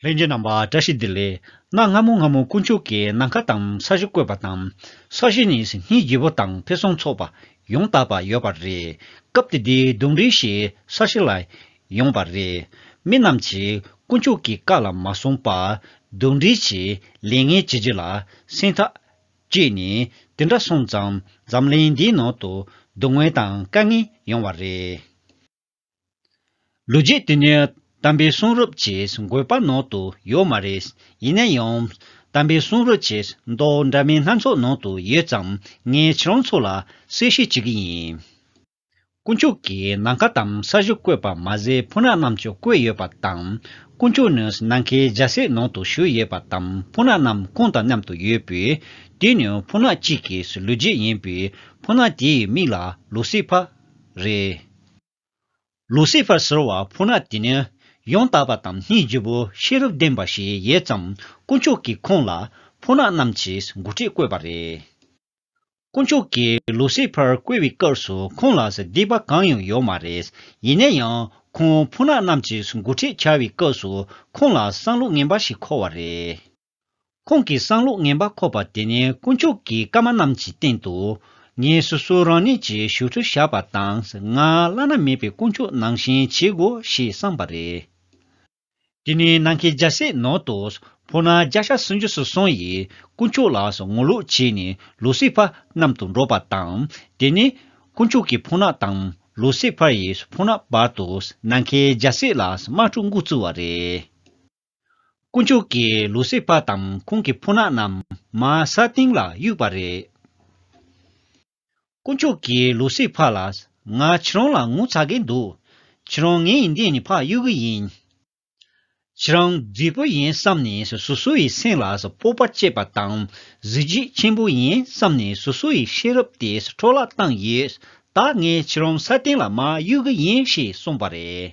ལྷན་ཅིག་རྣམ་པར་བཀྲ་ཤིས་བདེ་ལེགས་གནང་སྔ་མོ་སྔ་མོ་དཀོན་མཆོག་གིས་ནམ་མཁའ་དང་ས་གཞི་བཀོད་པ་དང་ས་གཞི་ནི་སིད་ནྷིའི་རྒྱལ་པོ་དང་ཕེ་སོང་ཚོགས་པ་ཡོངས་དག་པ་ཡོད་པ་རེད་སྐབས་དེ་དེའི་གདུང་རིང་ཞིག་ས་གཞི་ལ་ཡོང་བ་རེད་མི་རྣམས་ཀྱིས་དཀོན་མཆོག་གི་བཀའ་ལ་མ་སྲུང་པར་གདུང་རིང་ཞིག་ལས་ངན་བྱེད་རྗེས་ལ་སེང་ཐག་བཅད་ནས་དེ་འདྲ་སོང་ཙང་འཛམ་གླིང་འདིའི་ནང་དུ་སྡུག་བསྔལ་དང་དཀའ་ངལ་ཡོང་བ་རེད། ལོ་རྒྱུས་དེ་ནི་དམ་པའི་གསུང་རབ་ཅེས་འགོད་པ་ནང་དུ་ཡོད་མ་རེད། ཡིན་ན་ཡང། དམ་པའི་གསུང་རབ་ཅེས་མདོག་འདྲ་མིན་སྣ་ཚོགས་ནང་དུ་ཡོད་ཙང་ངས་ཁྱེད་རང་ཚོ་ལ་གསལ་བཤད་བྱེད་ཀྱི་ཡིན། དཀོན་མཆོག་གིས་ནམ་མཁའ་དང་ས་གཞི་བཀོད་པ་མ་ཟད་ཕུ་ནག་རྣམས་ཀྱང་བཀོད་ཡོད་པ་དང། དཀོན་མཆོག་ནི་ནམ་མཁའི་རྒྱལ་སྲས་ནང་དུ་བཞུགས་ཡོད་པ་དང་ཕུ་ནག་རྣམས་ཁོང་དང་མཉམ་དུ་ཡོད་པས། དེ་ནི་ཕུ་ནག་གཅིག་གི་ལོ་རྒྱུས་ཡིན་པས་ཕུ་ནག་དེའི་མིག་ལ་ལོ་སི་ཕ། རེད། ལུ་སི་ཕར་ཟེར་བ་ཕུ་ནག་དེ་ནི་ཡང་དག་པ་དང་སྙིང་རྗེ་བོ་ཤེས་རབ་ལྡན་པ་ཞིག་ཡོད་ཙམ་དཀོན་མཆོག་གིས་ཁོང་ལ་ཕུ་ནག་རྣམས་ཀྱི་འགོ་ཁྲིད་བསྐོས་པ་རེད། དཀོན་མཆོག་གིས་ལུ་སི་ཕར་བསྐོས་པའི་སྐབས་སུ་ཁོང་ལ་སྡིག་པ་གང་ཡང་ཡོད་མ་རེད་ཡིན་ན་ཡང་ཁོང་ཕུ་ནག་རྣམས་ཀྱི་འགོ་ཁྲིད་བྱ་བའི་སྐབས་སུ་ཁོང་ལ་བསམ་བློ་ངན་པ་ཞིག་འཁོར་བ་རེད། ཁོང་གིས་གསང་ལུགས་ངན་པ་འཁོབ་པ་དེ་ནི་དཀོན་མཆོག་གི་བཀའ་མ་རྣམས་ཀྱི་སྟེང་དུ། ངས་སོ་སོ་རང་ཉིད་ཀྱི་བཞུགས་ཁྲི་བཞག་པ་དང་ང་བླ་ན་མེད་པའི་དཀོན་མཆོག་ནང་བཞིན་བྱེད་དགོས་ཞེས་བསམས་པ་རེད། དེ་ནས་ནང་གི་རྒྱལ་སྲས་ནང་དུ་འཕོ་ན་བརྒྱ་ཆ་སུམ་ཅུ་སོ་སོ་ཡིས་དཀོན་མཆོག་ལ་ངོ་ལོག་བྱས་ནས་ལུ་སི་ཕ་གནམ་དུ་འགྲོ་པ་དང། དེ་ནས་དཀོན་མཆོག་གི་འཕོ་ན་དང་ལུ་སི་ཕ་ཡི་འཕོ་ན་བར་དུ་ནང་གི་རྒྱལ་སྲས་ལ་དམག་འཁྲུག་འགོ་བཙུགས་བ་རེད། དཀོན་མཆོག་གིས་ལུ་སེ་ཕཱ་དང་ཁོང་གི་ཕོ་ནག་རྣམས་མ་སཱ་སྟེང་ལ་གཡུགས་པ་རེད། དཀོན་མཆོག་གིས་ལུ་སེ་ཕཱ་ལ། ང་ཁྱེད་རང་ལ་ངུ་ཚ་གིན་འདུག་ཁྱེད་རང་ངའི་ཡིན་ཏན་ནི་ཕག་གཡུག་གི་ཡིན། ཁྱེད་རང་རྫིག་པོ་ཡིན་བསམ་ནས་སོ་སོ་ཡི་སེམས་ལ་སྤོབས་པ་བསྐྱེད་པ་དང་གཟི་བརྗིད་ཆེན་པོ་ཡིན་བསམ་ནས་སོ་སོ་ཡི་ཤེས་རབ་དེ་འཕྲོ་བརླག་བཏང་ཡོད། ད་ངས་ཁྱེད་རང་སཱ་སྟེང་ལ་མ་གཡུག་གི་ཡིན་ཞེས་གསུངས་པ་རེད།